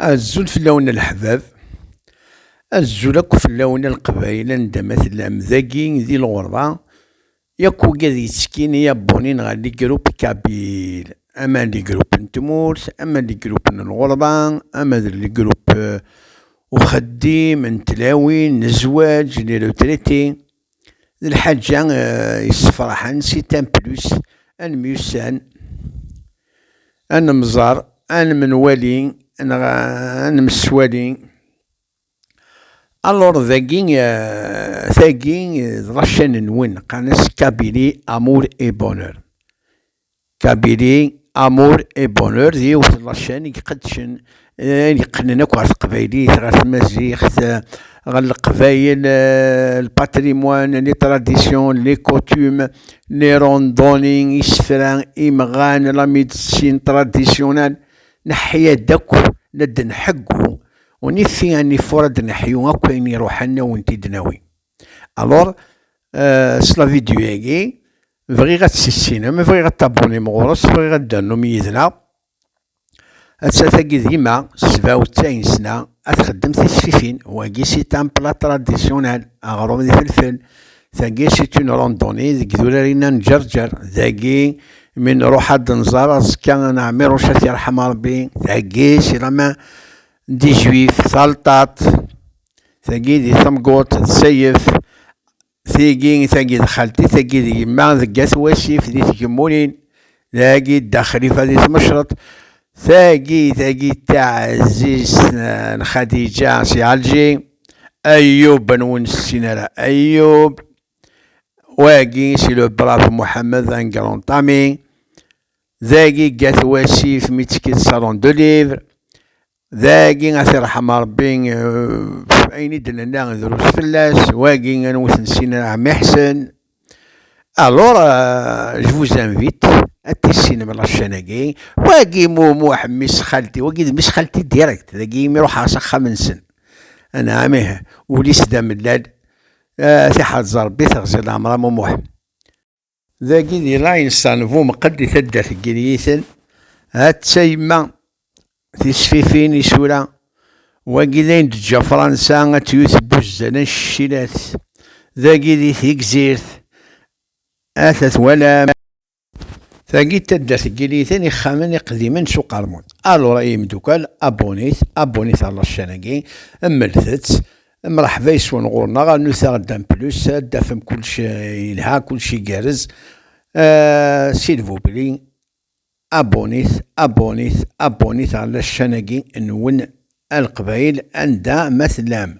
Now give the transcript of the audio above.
Azul fell-awen a leḥbab, azul akk fell-awen a leqbayel anda ma tellam dagi di lɣerba yakk wigi ad yettkin i abonné ɣer les groupes Kabyle ama les groupes n tmurt ama les groupes n lɣerba ama d les groupes uxeddim n tlawin n zzwaǧ les retraités d lḥaǧa eh, yessefraḥen si tamplus ad nemyussan ad nemẓer ad nemnwali neɣ ad nemswali alors dagi eh, tagi d lacan-nwen qqaren-as kabili amour et bonheur Kabili, Amour et Bonheur d yiwet n lacen i iqeddcen ayen yeqqnen akk ɣer teqbaylit, ɣer tmaziɣt, ɣer leqbayel, le patrimoine, les traditions, les coutumes, les randonnées, isefra, imɣan, la médecine traditionnelle, neḥya-d akk la d-nḥeggu, on y fit un effort ad neḥyu akk ayen iruḥen ad wen-t-id-nawi. Alors, s la vidéo-agi, Bɣiɣ ad tt-tissinem, bɣiɣ ad tabunim ɣur-s, bɣiɣ ad d-ternum yid-neɣ. Atta tagi d yemma, ssbaw d taynesna, ad txeddem tisfifin. Wagi c'est un plat traditionnel, aɣrum d ifelfel. Tagi c'est une randonnée, deg idurar-inna n Ǧerǧer. Dagi mi nruḥ ad d-nẓer aẓekka n Ɛmiruc ad t-yerḥem Rebbi. Tagi c'est la main des juifs, talṭaṭ. Tagi di tamguḍt d Sayef. Tigi, tagi d xalti, tagi d yemma, deg At Wasif, di Tgemmurin, dagi d Dda Xlifa di Tmecreḍt, tagi, tagi d taɛzizt n Xadiǧa si Ɛelǧi, Ayub, anwa ur nessin ara Ayub, wagi si le brave Mohamed, un grand ami, dagi deg At Wasif mi ttekkit Salon de Livre, Dagi ad t-irḥem Ṛebbi ɣef ayen i d-nenna drus fell-as, wagi ad nwet Nesina Ɛmiḥsen. Alors, je vous invite ad tissinem lacana-agi. Wagi Mumuḥ, mmi-s xalti, wagi d mmi-s xalti direct, dagi imi ruḥeɣ s axxam-nsen. Anɛam ih, ul-is d amellal. Tiḥreḍ Ṛebbi teɣzi leɛmer a Mumuḥ. Dagi di Lainsan bu Mqed di taddart n Yinyiten, hatta yemma tisfifin, isura, wagi d ayen d-teǧǧa Fransa ad t-yut n wuzzal ancecilat, dagi di Tegzirt, ata twalam, tagi d taddart n Yinyiten, ixxamen iqdimen s uqermud, alur ay imeddukkal, abonit, abonit ar laccan-agi, mmlet-tt, Mreḥba yes-wen ɣur-neɣ, a Nuta Dan Plus, ad d-tafem kullec yelha, kullec igerrez. Silvupli, abonnit, abonnit, abonnit ɣer la ccan-agi nwen a Leqbayel anda ma tellam.